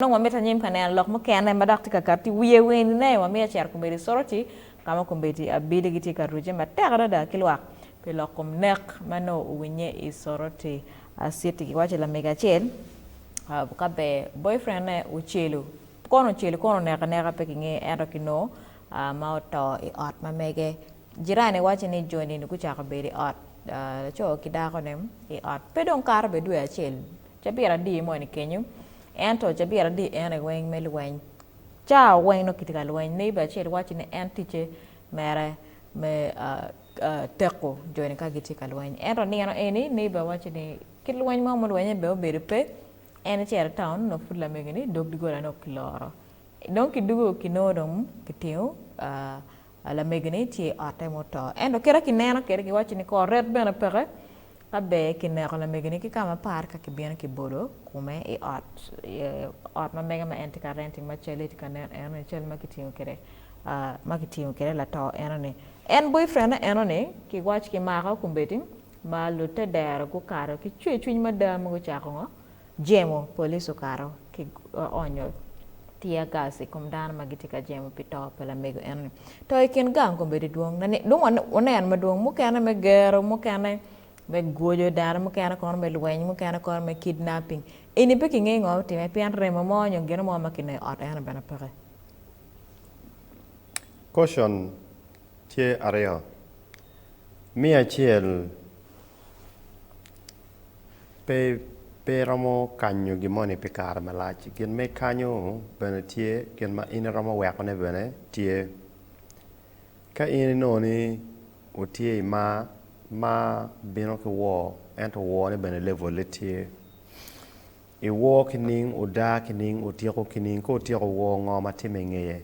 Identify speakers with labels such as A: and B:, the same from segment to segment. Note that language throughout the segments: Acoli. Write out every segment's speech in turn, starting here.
A: Nongo wamito anyim ka neno lok mukene ma dok tye ka kato i wiye wene. Nayo wamito acito kombeddi i Soroti, ka ma kombeddi abili gitye ka rucce matek adada ki lwak pi lok kom nek ma nongo owinnye i Soroti. Citi giwaco lamege acel ka ber boyfriend-ne ocelu. Kono ocelu kono oneko aneka pe kingeyo ento kinongo ma oto i ot ma mege. Jirani waco ni joni-ni gucako bedo i ot laco ki dako-ne i ot pe dong kato bene dwe acel Cabit adi moni kenyo, ento cabit adi en aye weng me lweny. Cawa weng nongo kitye ka lweny. Neighbor acel wacci ni en ticce mere me teko joni ka gitye ka lweny. Ento nino eni neighbor wacci ni kit lweny mo mulwenye bene obedo pe, en ecito i town nongo pud lamege ni dog dogolane okiloro. Dong kidugo kinongo dong kitingo a lamegoni tye i otte muto. Ento kit a kineno kwede giwaco ni kor ret bene peke ka ber kineko lamegoni ki ka mapar ka kibino kibolo kome i ot ot ma mege ma en tye ka renti ma calle tye ka nen enoni cal ma kitingo kwede ma kitingo kwede lato enoni. En boyfriend-ne enoni kiwac kimako kombeddi ma lute dero gukato ki cwercwiny mada ma gucako ngo Jemo, Police okato ki onyo tear gas i kom dano ma gitye ka jemo pi to pa lamego eno-ni. To i kin gang kombeddi dwong na ni, dong waneno madwong, mukene me gero, mukene me gwoco dano, mukene kono me lweny, mukene kono me kidnapping. Eni pe kingeyo ngo otime pien remo mo nyo gino mo ma kineno i ot eno bene peke.
B: Portion tye aryo, me acel Pe iromo kanyo gin moni pi kare malac. Gin ma ikanyo bene tye, gin ma in iromo wekone bene tye. Ka in inongo ni wutye i mar, mar bino ki wor, ento worne bene levole tye. Iwor kining, udar kining, utyeko kining, ka utyeko wor ngo ma timme ingeye.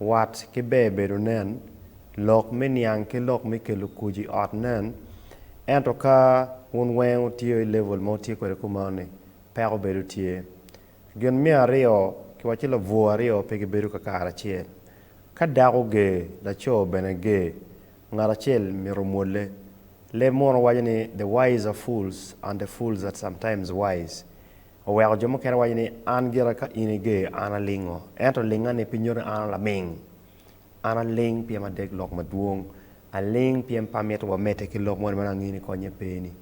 B: Wat ki ber bedo nen, lok me niang ki lok me kelo kuc i ot nen, ento ka wun weng wutiyo i level ma wutye kwede kumeno ni, peko bedo tye. Gin me aryo, kiwaco ni labwor aryo pe gibedo kakare acel. Ka dako ger, laco bene ger. Ngat acel myero omwolle. Leb muno waco ni, The wise are fools, and the fools are sometimes wise. Oweko jo mukene waco ni, An gira ka in iger, an alingo. Ento lingani pi nyuto ni an alaming. An aling pien adeg lok madwong. Aling pien pe amito wa amedde ki lok moni ma nongo in ikonye pe-ni.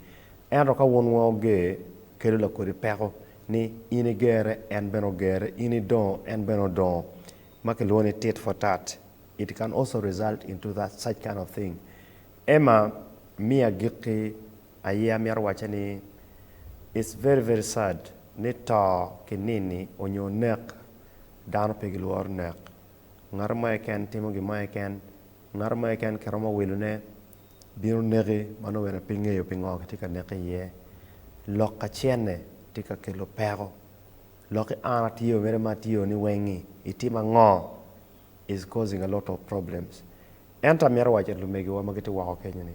B: Ento ka wun weng oger, kelo lakodi peko ni, In igere, en bene ogere, in idongo, en bene odongo, ma kilwongo ni tit for tat. It can also result into that such kind of thing Emma mi agikki aye amito wacce ni it's very very sad ni to ki nini onyo nek dano pe gilworo nek ngato mo keken timo gin mo keken ngato mo keken kiromo wilo ne bino neki ma nongo bene pe ingeyo pingo kitye ka neke iye lok kacene tye ka kelo peko lok ki an atye o mere ma atye o ni weng ni itimo ango is causing a lot of problems ento amito waco ni lumegiwa ma gitye woko kenyo ni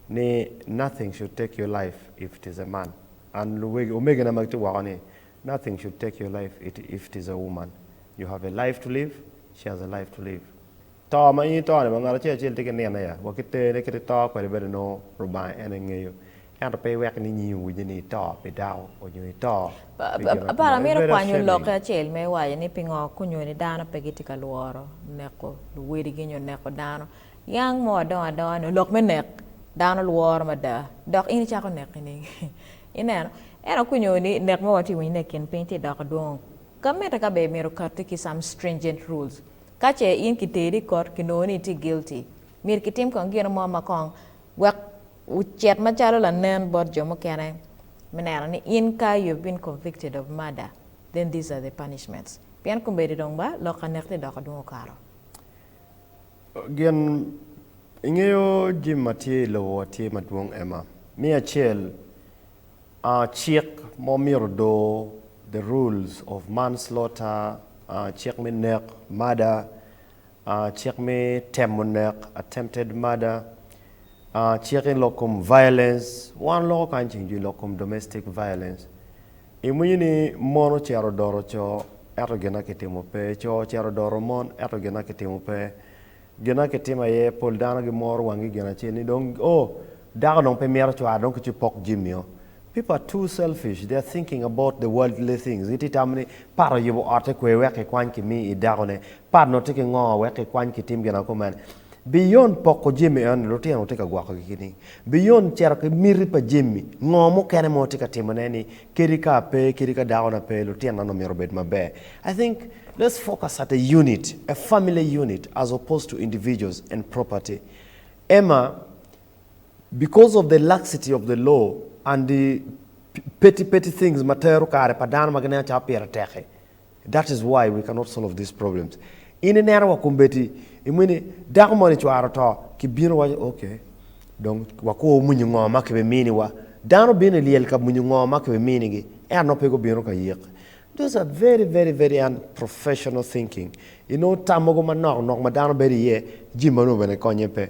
B: ni nothing should take your life if it is a man and luwegi omegina ma gitye woko ni nothing should take your life it if it is a woman you have a life to live she has a life to live to ma in ito ni ma ngat acel acel tye ki nino ya wa ki tene kit ito kwede bene nongo Lubanga en aye ngeyo Ento pe iwek ni nyingi owinye ni ito pi dako onyo ito pi gin ma Aparo amito
A: kwanyo lokke acel me waco ni pingo kunyo ni dano pe gitye ka lworo neko luwadigi nyo neko dano. Yang mo adongo adonga nyo lok me nek dano lworo mada dok in icako neki nining? Ineno? Ento kunyo ni nek ma watye ka winyo ni i kin piny tye ka doko dwongo, ka mitte ka be myero okatti ki some stringent rules. Ka ce in kiteri i kot kinongo ni itye guilty, myero kitim kong gino mo ma kong wek Wucit macalo lanen bot jo mukene me neno ni in ka you have been convicted of murder then these are the punishments pien kombeddi dong ba lok ka nek-ti dok adwong okato. Gin
B: ingeyo jimi ma tye i lobo wa tye madwong Emma. Me acel, aa cik ma omito doo the rules of manslaughter, aa cik me nek, murder, Cik me temo nek, attempted murder, cik i lok kom violence, wan loko kany ceng jo i lok kom domestic violence. Imwinyo ni mon ocito odoro co ento gin ma kitimo pe, co ocito odoro mon ento gin ma kitimo pe. Gin ma kitimo aye pol dano gimoro wanggi gin acel ni dong oh dako dong pe mito cware dong kicu pok jami-o. People are too selfish, they are thinking about the worldly things. Gitye tamo ni pat oyubo otte kwer wek kikwany kimi i dakone, pat nongo tye ki ngo wek kikwany kitim gin ango kumene. Beyond poko jami enoni, lutino wutye ka gwokogi ki nining? Beyond cito ki miti pa jami, ngo mukene ma watye ka timone ni kadi ka ape, kadi ka dakona pe, lutinona nongo myero obed maber? I think let's focus at a unit, a family unit as opposed to individuals and property. Emma, Because of the laxity of the law and the petty petty things ma tero kare pa dano ma gineno calo pire tek-ki, that is why we cannot solve these problems. In ineno wa kombeddi, imiyo ni dako moni cware oto, kibino iwaco, ok, dong wakur omunyu ngo ma kibimini wa. Dano bino ilyel ka munyu ngo ma kibiminigi, ento nongo pe gubino ka yik. Those are very very very unprofessional thinking. Inongo tam mogo manok nok ma dano bedo iye, jami mano bene konye pe.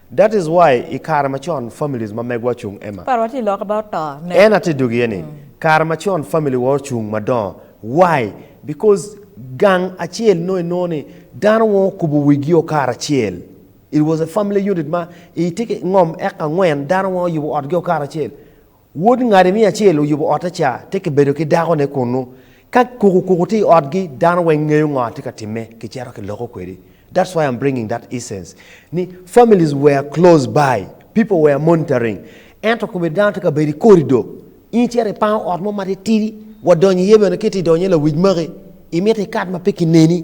B: That is why i kare macon families ma megwa ocung Emma. Par wa tye loka ba oto
A: ne. En atye dog iye
B: ni, kare macon family wa ocung madongo. Why? Because gang acel nongo inongo ni dano wongo okubo wigi o karacel. It was a family unit ma i tye ki ngom eka angwen dano wongo oyubo otgi o karacel. Wod ngati me acel oyubo otte ca te kibedo ki dakone kunnu. Ka kuku kuku tye i otgi, dano weng ngeyo ngo atye ka time ki ceto ki loko kwedi. That's why I'm bringing that essence ni families were close by, people were monitoring ento komedo dano tye ka bedo i kori do in iceto ipango ot mo matitidi wa donyo iye bene ki tye idonyo iye lawic maki imito ikat ma pe kineni.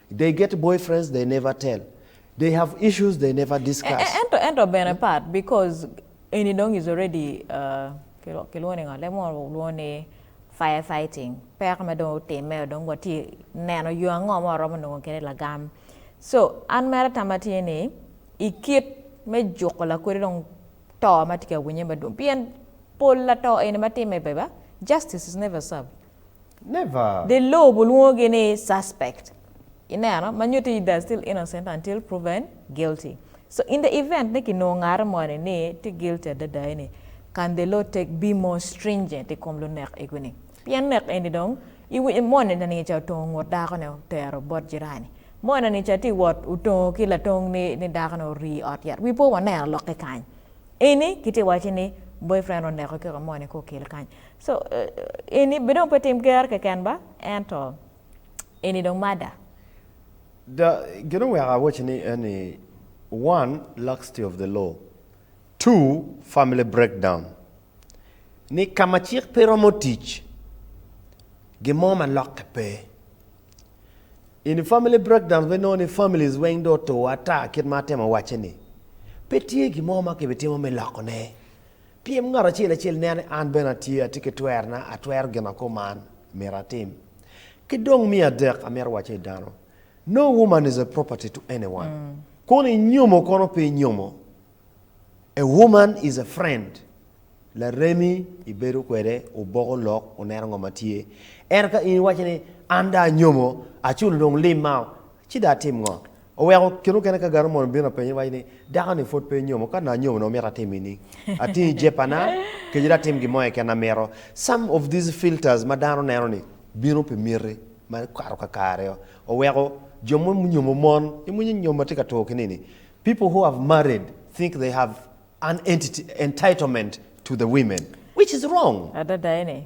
B: They get boyfriends they never tell, they have issues they never discuss. Ento ento bene part
A: because eni dong is already kilwongo ni ngo leb mo lwongo ni fire fighting peko ma dong otimme dong watye neno yo ango ma waromo nongo kede lagam so an mere tama tye ni ikit me juko lakodi dong to matye ka winye madwong pien pol lato eni matimme beba justice is never served.
B: Dye lobo
A: olwongogi ni suspect, i neno, ma nyuto ni they are still innocent until proven guilty. So in the event ni kinongo ngate moni ni tye guilty adada eni, can the law take be more stringent i kom lunek egoni? Pien nek eni dong i wi moni na niga ca otongo ngut dako ne otero bot jirani, moni na niga ca tye wot otongo ki latong ni ni dako ne orii i ot yat, we po waneno lok ki kany eni kitye waco ni boyfriend oneko kiko moni ka okele kany. So eni be dong pe tim ger keken ba ento eni dong mada. Da,
B: gin oweko awaci ni eni, one, laxity of the law, two, family breakdown, ni ka ma cik pe romo tic, gin mo ma lokke pe. Eni family breakdown pe nongo ni families weng dong otur ata kit ma atemo wacce ni, pe tye gin mo ma kibitimo me lokone. Pyem ngat acel acel nen ni an bene atye, atye ki twerna, atwero gin ma koma myero atim. Ki dong me adek amito wacce i dano, No woman is a property to anyone. Kono i nyomo kono pe inyomo, a woman is a friend, laremi ibedo kwede, wuboko lok, wuneno ngo ma tye. Ento ka in iwaco ni an dong anyomo, aculo dong lim mao, Ci dong atim ngo? Oweko kine okene ka gano mono bino apenye waco ni, Dako-ni pwod pe enyomo, ka nongo anyomo nongo mito atim ini? Ating i jepana kec dong atim gin mo keken na amito. Some of these filters ma dano neno ni bino pi miti ma kato kakare-o, oweko jo mo munyomo mon, imwinyo nyo ma tye ka tur kini-ni, People who have married think they have an entity, entitlement to the women, which is wrong. Adada eni,